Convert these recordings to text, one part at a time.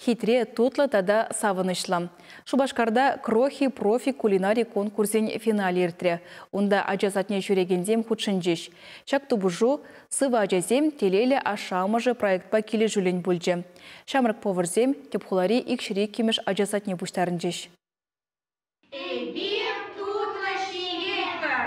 хитре, тутлӑ тата савӑнӑҫлӑ. Шупашкарта Крохи профи кулинари конкурсӗн финалӗ иртрӗ. Унта ача садне ҫӳрекенсем хутшӑнчӗҫ. Ҫак тупӑшу Сывӑ ачасем, телейлӗ ашшӗ-амӑшӗ проектпа килӗшӳллӗн пулчӗ. Ҫамрӑк поварсем тӗп хулари Икҫӗр иккӗмӗш ача садне пуҫтарӑнчӗҫ. Эпир тутлӑ ҫиетпӗр.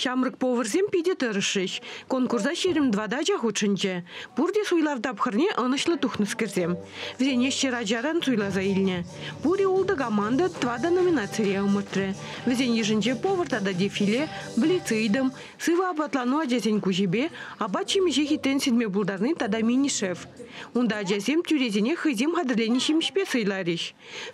Ҫамрӑк поварсем питӗ тӑрӑшрӗҫ. Конкурса ҫирӗм тӑватӑ хутшӑнчӗ. Пурте суйлав тапхӑрне ӑнӑҫлӑ тухнӑскерсем. Вӗсене ҫӗр ачаран суйласа илнӗ. Пурӗ ултӑ команда тӑватӑ номинацире ӑмӑртрӗ. Вӗсен йышӗнче повар тата дефиле, блицидом, сывӑ апатлану ачасен куҫӗпе, апат-ҫимӗҫе хитрен сирме пултарни тата мини-шеф. Унта ачасем тӳресене хӑйсем хатӗрленӗ ҫимӗҫпе сӑйларӗҫ.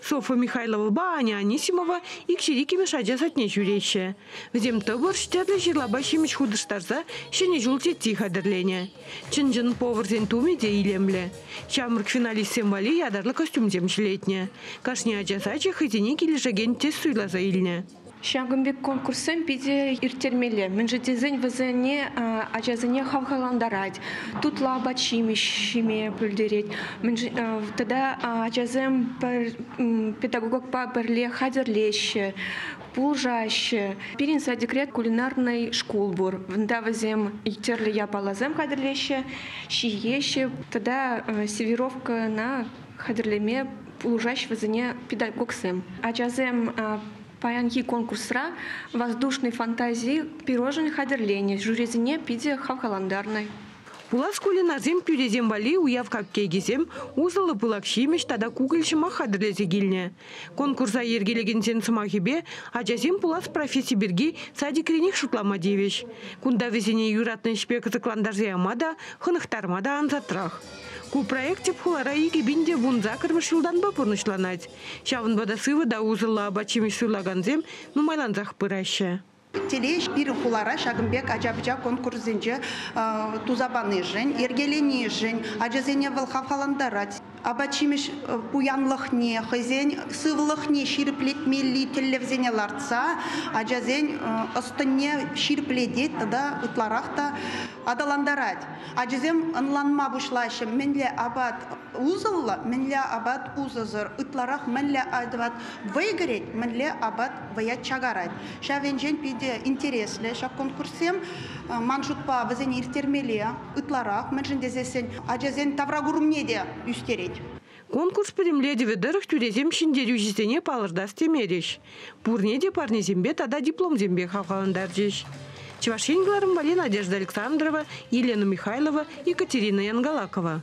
Софа Михайловӑпа Аня Анисимова икҫӗр иккӗмӗш ача садне ҫӳреҫҫӗ. Вӗсем тӑпӑрч, тӗрлӗ ҫырлапа ҫимӗҫ хутӑштарса ҫӗнӗ ҫул тетти хатӗрленӗ. Чӑн-чӑн поварсен тумӗ те илемлӗ. Ҫамрӑк финалистсем валли ятарлӑ костюмсем ҫӗлетнӗ. Кашни ача сачӗ хӑйсене килӗшекен тест суйласа илнӗ. Ҫакӑн пек конкурссем питӗ ирттермелле, мӗншӗн тесен вӗсене ачасене хавхалантарать, тутлӑ апат-ҫимӗҫ ҫиме пӗлтерет. Тата ачасем педагогпа пӗрле хатӗрлеҫҫӗ, пулӑшаҫҫӗ. Пирӗн садикре кулинарнӑй шкул пур. Унта вӗсем тӗрлӗ япаласем хатӗрлеҫҫӗ, ҫиеҫҫӗ тата сервировкӑна хатӗрлеме пулӑшаҫҫӗ вӗсене педагогсем. Ачасем паянхи конкурсра воздушной фантазии пирожен хатӗрленӗ жюрисене питӗ хавхалантарнӑ. Хула шкулӗн асем тӳресем валли уяв капкейкисем, усӑллӑ пылак ҫимӗҫ тата кукӑль ҫӑмах хатӗрлесе килнӗ. Конкурса йӗркелекенсен сӑмахӗпе ачасем пулас професси пирки садикренех шутлама тивӗҫ. Кунта вӗсене юратнӑ ӗҫпе кӑсӑклантарса яма та, хӑнӑхтарма та ансатрах. Ку проект тӗп хулара икӗ пин те вун сакӑрмӗш ҫултанпа пурнӑҫланать. Ҫавӑнпа та сывӑ та усӑллӑ апат-ҫимӗҫ суйлакансем нумайлансах пыраҫҫӗ. Телей пирӗн хулара ҫакӑн пек ача-пӑча конкурсӗнче туса панишӗн, йӗркеленишӗн ачасене вӑл хавхалантарать. Апат-ҫимӗҫ пуянлӑхне, хӑйсен сывлӑхне ҫирӗплетмелли тӗллевсене лартса ачасен ӑс-тӑнне ҫирӗплетет тата ытларах та аталантарать. Ачасем ӑнланма пуҫлаҫҫӗ, мӗнле апат усӑллӑ, мӗнле апат усӑсӑр, ытларах мӗнле апат вӑй кӗрет, мӗнле апат вӑя чакарать. Ҫав енчен питӗ интереслӗ ҫак конкурссем. Ман шутпа, вӗсене ирттермелле ытларах, мӗншӗн тесессӗн ачасен тавракурӑмне те ӳстерет. Конкурс пӗтӗмлетӗвӗ тӑрӑх тӳресем ҫӗнтерӳҫӗсене палӑртас темерӗҫ. Пурне те парнесемпе тата дипломсемпе хавхалантарчӗҫ. Чӑваш Ен кӑларӑмпа Надежда Александрова, Елена Михайлова, Екатерина Янгалакова.